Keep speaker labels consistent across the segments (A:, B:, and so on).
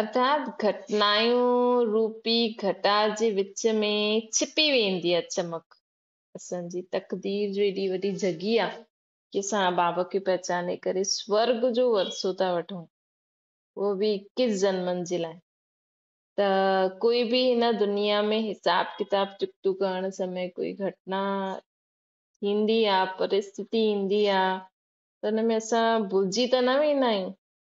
A: ارٿات گهٽنايون روپي گهٽا جي وچ ۾ ڇپي ويندي آ چمڪ اسان جي تقدير جو ايڏي وڏي جهڳي آ ڪي اسان اباب کي پهچاني ڪري سورڳ جو ورثو ٿا وٺون اهو به اڪيس جنمن جي لاء ته ڪوئي به هن دنيا ۾ حساب ڪتاب چڪتو ڪرڻ سمي ڪوئي گهٽنا ٿيندي آ پرستتي ايندي آ ته ان ۾ اسان ڀلجي ته نه ويندا آهيون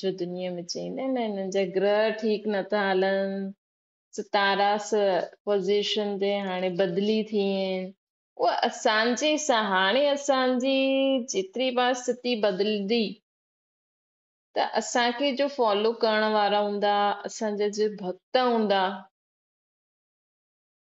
A: جو دنيا ۾ چئي نه نه هنن جا گرهه ٺيڪ نٿا هلن ستاراس پوزيشن تي هاڻي بدلي ٿي آهن اها اسان جي سان هاڻي اسان جي جيتري بار ستي بدلدي ته اسان کي جو فالو ڪرڻ وارا هوندا اسان جا جو ڀڳت هوندا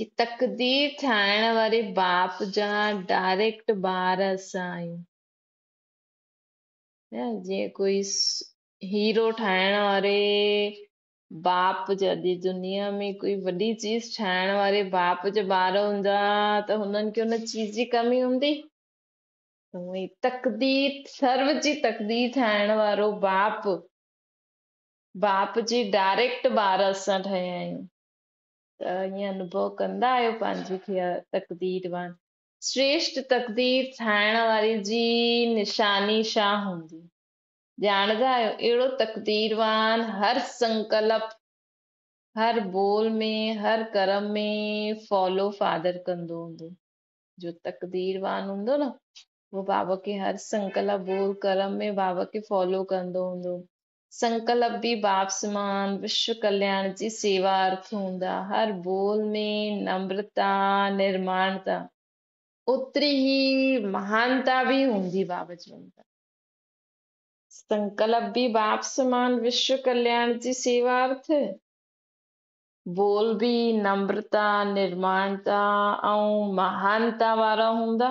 A: ڪي تقدير ٺاهڻ واري باپ جا ڊائريڪٽ ٻار اسان آهيون. جيئن ڪوئي هيرو ٺاهڻ واري باپ جا جي دنيا ۾ ڪوئي وڏي چيز ٺاهڻ واري باپ جا ٻار هوندا ته هنن کي ان چيز جي ڪمي هوندي هوئي تقدير سرو جي تقدير ٺاهڻ وارو باپ باپ جي ڊائريڪٽ ٻار اسان ٺهيا آهيون ائين انوڀو ڪندا آهيو پنهنجي کي تقدير وان سريشٽ تقدير ٺاهڻ واري جي نشاني ڇا هوندي ڄاڻدا آهيو اهڙو تقدير وان هر سنڪلپ هر بول ۾ هر ڪرم ۾ فالو فادر ڪندو هوندو جو تقدير وان هوندو نه هو بابا کي هر سنڪلپ بول ڪرم ۾ بابا کي فالو ڪندو هوندو سنڪلپ به باب سمان وشو ڪلياڻ جي سيوا ارٿ هوندا. هر ٻول ۾ نمرتا، نرماڻتا، اوتري ئي مهانتا به هوندي. باب چوندا، سنڪلپ به باب سمان وشو ڪلياڻ جي سيوا ارٿ، ٻول به نمرتا، نرماڻتا ۽ مهانتا وارا هوندا.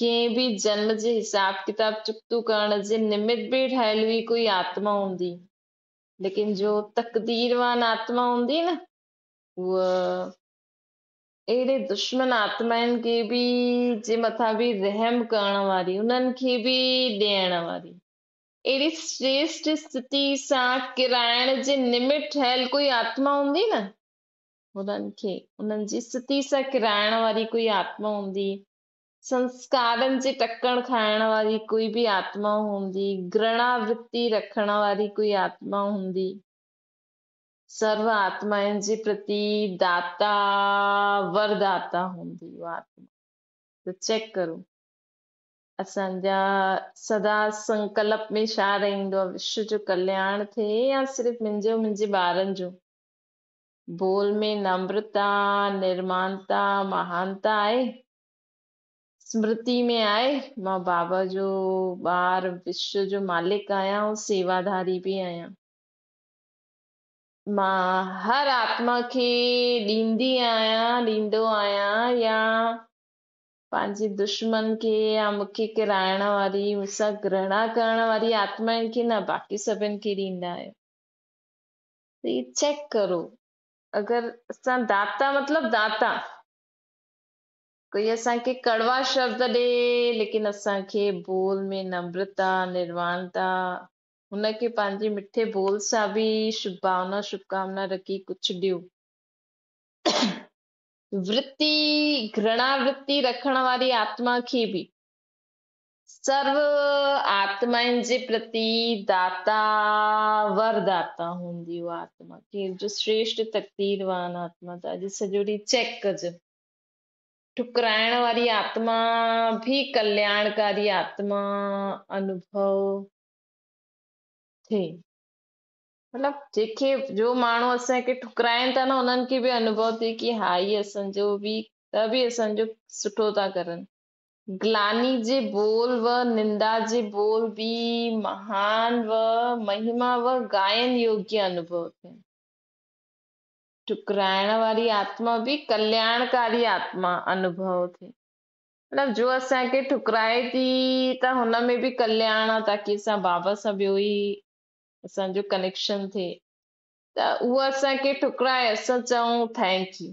A: ڪنهن به جنم جي حساب ڪتاب چڪتو ڪرڻ جي نمت به ٺاهيل هئي ڪوئي آتما هوندي ليڪن جو تقديروان آتما هوندي نه هو اهڙي دشمن آتمائن کي به جي مٿان به رحم ڪرڻ واري انهن کي به ڏيڻ واري اهڙي سريشٽ استتي سان ڪرائڻ جي نمت ٺهيل ڪوئي آتما هوندي نه هنن کي انهن جي استتي سان ڪرائڻ واري ڪوئي آتما هوندي سنسڪارن جي ٽڪڻ کائڻ واري ڪوئي به آتما هوندي، گرڻا ورتي رکڻ واري ڪوئي آتما هوندي، سرو آتمائن جي پرتي داتا ور داتا هوندي اها آتما ته چيڪ ڪرو اسان جا سدا سنڪلپ ۾ ڇا رهندو آهي وشو جو ڪلياڻ ٿئي يا صرف منهنجو منهنجي ٻارن جو بول ۾ نمرتا، نرمانتا، مهانتا آهي. اسمرتي ۾ آهي، مان بابا جو ٻار، وشو جو مالڪ آهيان ۽ سيواداري به آهيان. مان هر آتما کي ڏيندي آهيان، ڏيندو آهيان يا پنهنجي دشمن کي يا مون کي ڪرائڻ واري، مون سان گرهڻا ڪرڻ واري آتمائن کي نه، باقي سڀن کي ڏيندا آهيو. ري چيڪ ڪرو اگر اسان داتا مطلب داتا ڪوئي اسان کي ڪڙوا شبد ڏي ليڪن اسان کي بول ۾ نمرتا نروانتا هن کي پنهنجي مٺي بول سان به شڀ بھاونا شڀ ڪامنا رکي ڪجھ ڏيو ورتي گھرڻا ورتي رکڻ واري آتما کي به سرو آتمائن جي پرتي داتا ور داتا هوندي هو آتما کير جو سريشٽ تقدير وان آتما ته اڄ سڄو ڏينهن چيڪ ڪج ٺڪرائڻ واري آتما به ڪلياڻڪاري آتما انوڀو ٿي مطلب جيڪي جو ماڻهو اسان کي ٺڪرائن ٿا نه انهن کي به انوڀو ٿي ڪي هائي اسان جو به ته به اسان جو سٺو ٿا ڪرن گلاني جي بول و نندا جي بول به مهان و مهما و گائن يوگيا انوڀو ٿين. ٽڪرائڻ واري آتما به ڪلياڻڪاري آتما انوڀو ٿين. مطلب جو اسان کي ٺڪرائي ٿي ته هن ۾ به ڪلياڻ آ تاڪي اسان بابا سان ٻيو ئي اسان جو ڪنيڪشن ٿئي ته اها اسان کي ٺڪرائي اسان چئون ٿينڪ يو.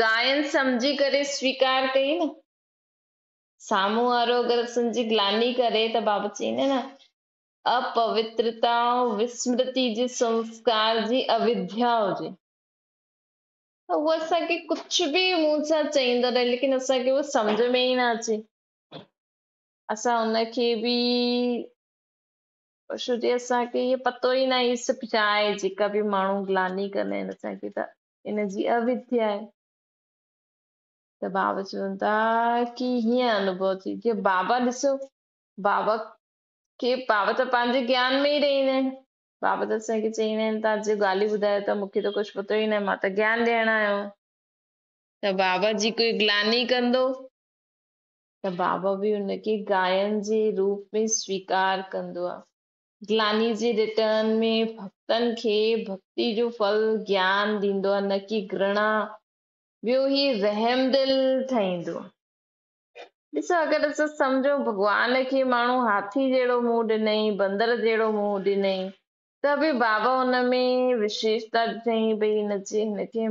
A: گائن سمجهي ڪري سويڪار ڪئي نه، سامهون وارو اگر سنجهي گلاني ڪري ته بابت چئين نه، اپوترتا ۽ وسمرتي جي سنسڪار جي اويڌيا هجي ته هو اسان کي ڪجهه به منهن سان چئيندو رهي ليڪن اسان کي اهو سمجهه ۾ ئي نه اچي اسان ان کي به شو جي اسان کي اهو پتو ئي نه آهي سڀ جاء جيڪا به ماڻهو گلاني ڪندا آهن اسان کي ته ان جي اعويت ٿي آهي. ته بابا چون ٿا ڪي هيئن انوڀو ٿي جي بابا ڏسو بابا کي بابا ته پنهنجي گيان ۾ ئي رهيندا آهن بابا ته اسان کي چئيندا آهن تان جي ڳالهيون ٻڌايو ته مون کي ته ڪجهه پتو ئي نه مان ته گيان ڏيڻ آيو آهيان ته بابا جي ڪوئي گلاني ڪندو ته بابا به ان کي گاين جي روپ ۾ سويڪار ڪندو آهي گلاني جي رٽن ۾ ڀڳتن کي ڀڳتي جو ڦل گيان ڏيندو آهي نه ڪي گرڻا، ٻيو هي رحم دل ٺهيندو. ڏسو اگر اسان سمجهون ڀڳوان کي ماڻهو هاٿي جهڙو منهن ڏنئين، بندر جهڙو منهن ڏنئين ته به بابا ان ۾ وشيشتا ڏٺئين ڀئي هن جي هن کي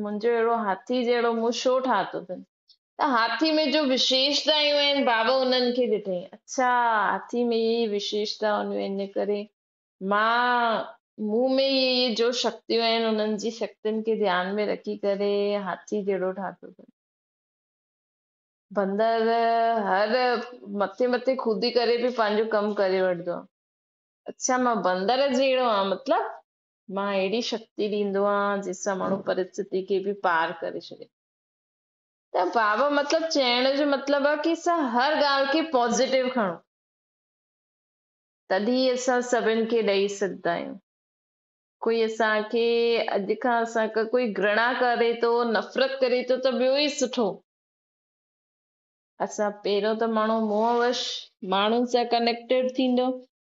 A: منهنجو اهڙو هاٿي جهڙو منهن ڇو ٺاهتو اٿن؟ ته هاٿي ۾ جو وشيشتائيون آهن، بابا انهن کي ڏٺائين. اڇا، هاٿي ۾ اهي ئي وشيشتائون هونديون آهن، ان ڪري مان مون ۾ ئي اهي جو شڪتيون آهن، انهن جي شڪتين کي ڌيان ۾ رکي ڪري هاٿي جهڙو ٺاهتو اٿن. بندر هر مٿي مٿي خودي ڪري به پنهنجو ڪم ڪري وٺندو آهي. اڇا، مان بندر جهڙو آهيان، مطلب؟ مان اهڙي شڪتي ڏيندو آهيان جنهن سان ماڻهو پرستتي کي به پار ڪري ڇڏي ته بابا مطلب چئڻ جو مطلب آهي ڪي اسان هر ڳالهه کي پازيٽو کڻو تڏهن ئي اسان سڀن کي ڏئي سگهندا آهيون ڪوئي اسان کي اڄ کان اسان کي ڪوئي گرڻا ڪري ٿو نفرت ڪري ٿو ته ٻيو ئي سٺو اسان پهريون ته ماڻهو موهه وش ماڻهن سان ڪنيڪٽيڊ ٿيندو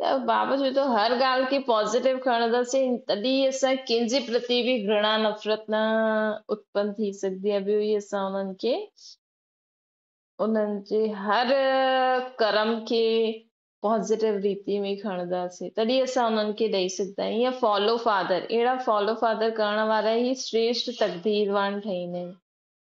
A: ته بابا جي تو هر ڳالهه کي پازيٽو کڻنداسين تڏهن ئي اسان ڪنهن جي پرتي به گهڻا نفرت نه اتپن ٿي سگهندي ۽ ٻيو ئي اسان انهن کي انهن جي هر ڪرم کي پازيٽو ريتي ۾ کڻنداسين تڏهن اسان انهن کي ڏئي سگهندا آهيون ائين فالو فادر اهڙا فالو فادر ڪرڻ وارا ئي شريشٽ تقديروان ٺهيندا آهن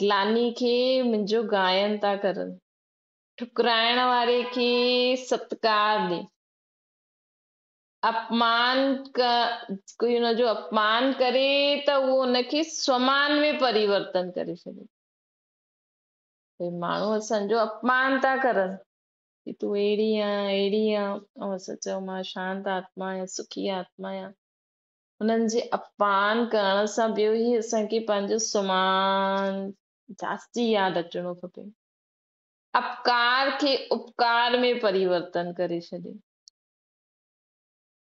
A: گلاني کي منهنجو گائن ٿا ڪرن. ٺڪرائڻ واري کي ستڪار ڏي. اپمان ڪوئي ان جو اپمان ڪري ته اهو ان کي سمان ۾ پريورتن ڪري ڇڏيندو. اهي ماڻهو اسان جو اپمان ٿا ڪرن ته تون اهڙي آهين اهڙي آهين. آئون اسان چيو مان شانت آتما آهيان سکي آتما آهيان. انهن جي اپمان ڪرڻ سان ٻيو هي اسان کي پنهنجو سمان جاچي ياد اچڻو کپي. اپڪار کي اپڪار ۾ پريورتن ڪري ڇڏي.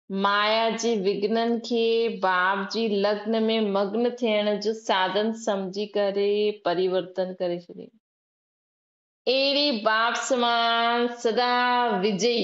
A: مايا جي وگنن کي باب جي لگن ۾ مگن ٿيڻ جو ساڌن سمجهي ڪري پريورتن ڪري ڇڏي. اهڙي باب سمان سدا وجئي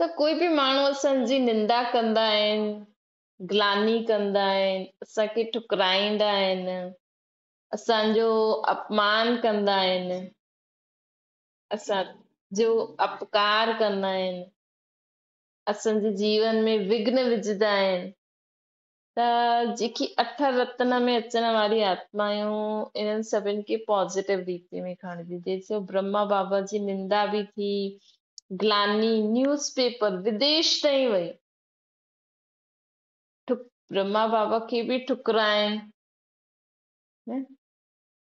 A: ته ڪوئي به ماڻهو اسان جي نندا ڪندا آهن، گلاني ڪندا آهن، اسان کي ٺڪرائيندا آهن، اسان جو اپمان ڪندا آهن، اسان جو اپڪار ڪندا آهن، اسان جي جيون ۾ وگهن وجهندا آهن، ته جيڪي اٺ رتن ۾ اچڻ واريون آتمايون انهن سڀن کي پازيٽو ريتي ۾ کڻجي جيسو برهما بابا جي نندا به ٿي گلاني نيوز پيپر وديش تائين وئي ٺڪ برهما بابا کي به ٺڪرائين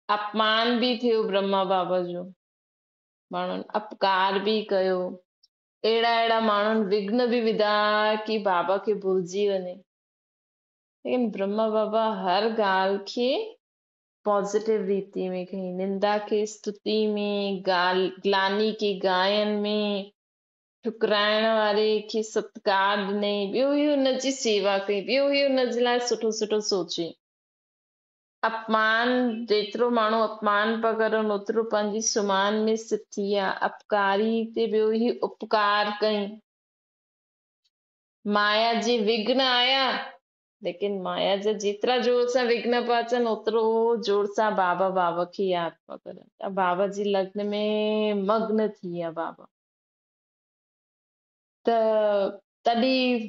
A: اپمان به ٿيو برهما بابا جو ماڻهن اپڪار به ڪيو اهڙا اهڙا ماڻهن وگهن به وڌا ڪي بابا کي ڀلجي وڃي ليڪن برهما بابا هر ڳالهه کي پازيٽو ريتي ۾ کين نندا کي استتي ۾ گلاني کي گائن ۾ ٺڪرائڻ واري کي ستڪار ڏني ٻيو هي ان جي سيوا ڪئي ٻيو هي ان جي لاء سٺو سٺو سوچي اپمان، جيترو ماڻهو اپمان پيا ڪرن، اوترو پنهنجي سوماهن ۾ سٿ ٿي آ. اپڪاري تي ٻيو هي اپڪار ڪئين. مايا جي وگهن آيا، ليڪن مايا جا جيترا زور سان وگهن پيا اچن، اوترو زور سان بابا بابا کي ياد پيا ڪرن ته بابا جي لگن ۾ مگن ٿي آ بابا ته تڏهن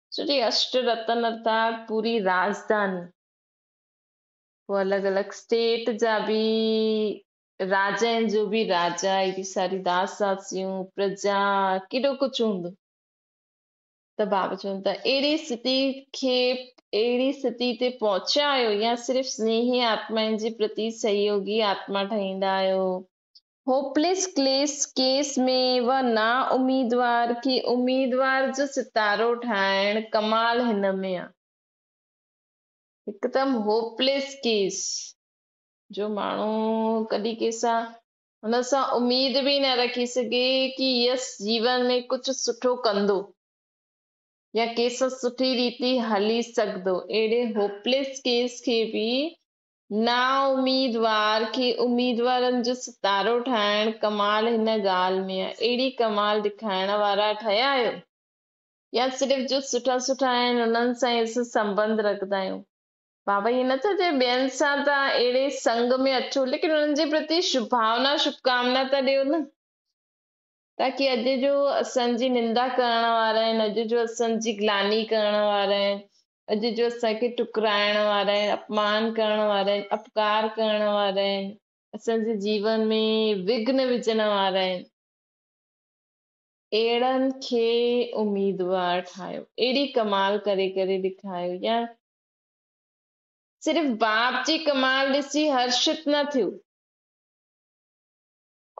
A: سري اشٽ رتن ارٿات پوري راجڌاني پوء الڳ الڳ اسٽيٽ جا به راجائن جو به راجا اي به ساري داس داسيون پرجا ڪيڏو ڪچ هوندو ته باب چون ته اهڙي ستي کي اهڙي ستي تي پهچيا آهيو يا صرف سنيهي آتمائن جي پرتي سهيوگي آتما ٺهيندا آهيو هوپليس ڪليس ڪيس ۾ و نا اميدوار کي اميدوار جو ستارو ٺاهڻ ڪمال هن ۾ آ هڪدم هوپليس ڪيس جو ماڻهو ڪڏي ڪيسا هن سان اميد به نه رکي سگهي ڪي يس جيون ۾ ڪجهه سٺو ڪندو يا ڪيس سٺي ريتي هلي سگهدو اهڙي هوپليس ڪيس کي به نااميدوار کي اميدوارن جو ستارو ٺاهڻ ڪمال هن ڳالهه ۾ آهي اهڙي ڪمال ڏيکارڻ وارا ٺهيا آهيو يا صرف جو سٺا سٺا آهن انهن سان ئي اسين سنٻنڌ رکندا آهيون بابا هي نه ٿا چئن ٻين سان ته اهڙي سنگ ۾ اچو ليڪن انهن جي پرتي شڀاونا شڀڪامنا ته ڏيو نه تاڪي اڄ جو اسان جي نندا ڪرڻ وارا آهن اڄ جو اسان جي گلاني ڪرڻ وارا آهن اڄ جو اسان کي ٺڪرائڻ وارا آهن اپمان ڪرڻ وارا آهن اپڪار ڪرڻ وارا آهن اسان جي جيون ۾ وگهن وجهڻ وارا آهن اهڙن کي اميدوار ٺاهيو اهڙي ڪمال ڪري ڪري ڏيکايو يا صرف باپ جي ڪمال ڏسي هرشت نه ٿيو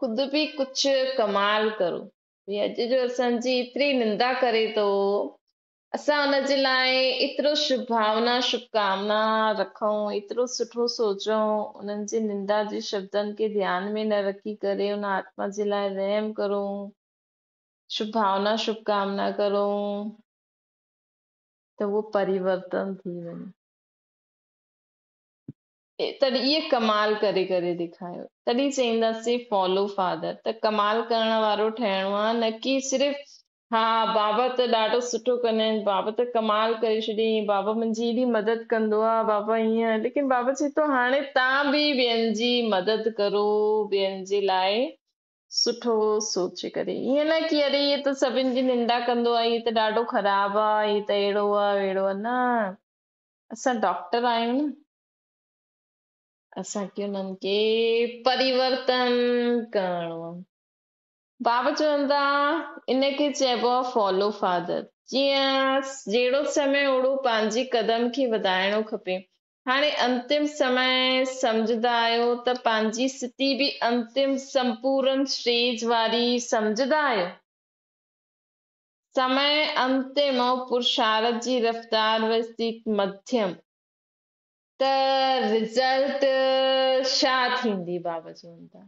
A: خود به ڪجهه ڪمال ڪرو اڄ جو اسان جي ايتري نندا ڪري ٿو اسان ان جي لاء ايترو شڀ ڀاونا، شڀ ڪامنا، رکون، ايترو سٺو سوچون، انهن جي نندا جي شبدن کي ڌيان ۾ نه رکي ڪري ان آتما جي لاء رحم ڪرون، شڀ ڀاونا، شڀ ڪامنا ڪرون ته اهو پريورتن ٿي وڃي. تڏهن اهي ڪمال ڪري ڪري ڏيکايو تڏهن چئينداسين فالو فادر ته ڪمال ڪرڻ وارو ٺهڻو آهي نه ڪي صرف ها بابا ته ڏاڍو سٺو ڪندا آهن بابا ته ڪمال ڪري ڇڏيائين بابا منهنجي ايڏي مدد ڪندو آهي بابا هيئن ليڪن بابا چي ٿو هاڻي تان به ٻين جي مدد ڪرو ٻين جي لاء سٺو سوچي ڪري ائين نه ڪي اري هي ته سڀن جي ننڊا ڪندو آهي هي ته ڏاڍو خراب آهي هي ته اهڙو آهي وهڙو آهي نه اسان ڊاڪٽر آهيون نه اسان کي انهن کي پريورتن ڪرڻو آهي بابا چون ٿا، ان کي چئبو آهي Follow Father. جيئن جهڙو سمي اوڙو پنهنجي قدم کي وڌائڻو کپي. هاڻي انتم سمي سمجهندا آهيو ته پنهنجي ستي به انتم سمپورن Stage واري سمجهندا آهيو؟ سمي انتم ۽ پرشارت جي رفتار و ستيت مڌيم. ته Result شا ٿيندي؟ بابا چون ٿا.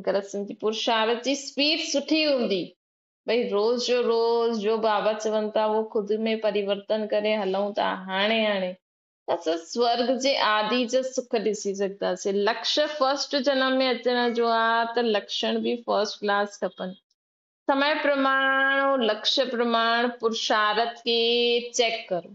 A: اگر اسين جي پرشارت جي اسپيڊ سٺي هوندي ڀئي روز جو روز جو بابا چون ٿا هو خود ۾ پريورتن ڪري هلون ٿا هاڻي هاڻي اسان سورگ جي آدي جا سک ڏسي سگهنداسين لڪش فرسٽ جنم ۾ اچڻ جو آ ته لڪشڻ به فرسٽ ڪلاس کپن سمي پرماڻ لڪش پرماڻ پرشارت کي چيڪ ڪرو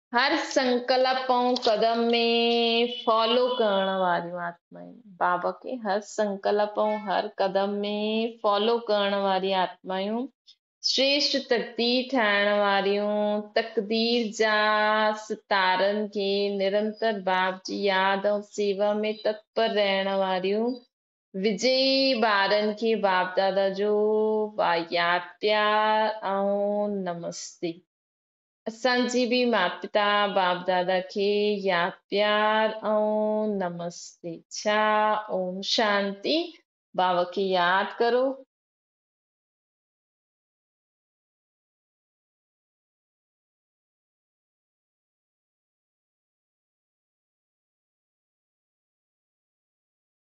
A: هر سنڪلپ ۽ قدم ۾ فالو ڪرڻ واريون آتمائون بابا کي هر سنڪلپ ۽ هر قدم ۾ فالو ڪرڻ واري آتمائون سريشٽ تقدير ٺاهڻ واريون تقدير جا ستارن کي نرنتر باب جي ياد ۽ سيوا ۾ تتپر رهڻ واريون وجئي ٻارن کي باب دادا جو وايار پيار ۽ نمستي. اسان جي به ماپتا باپ دادا کي يا پيار ۽ نمستي ڇا اوم شانتي باوا کي ياد ڪرو.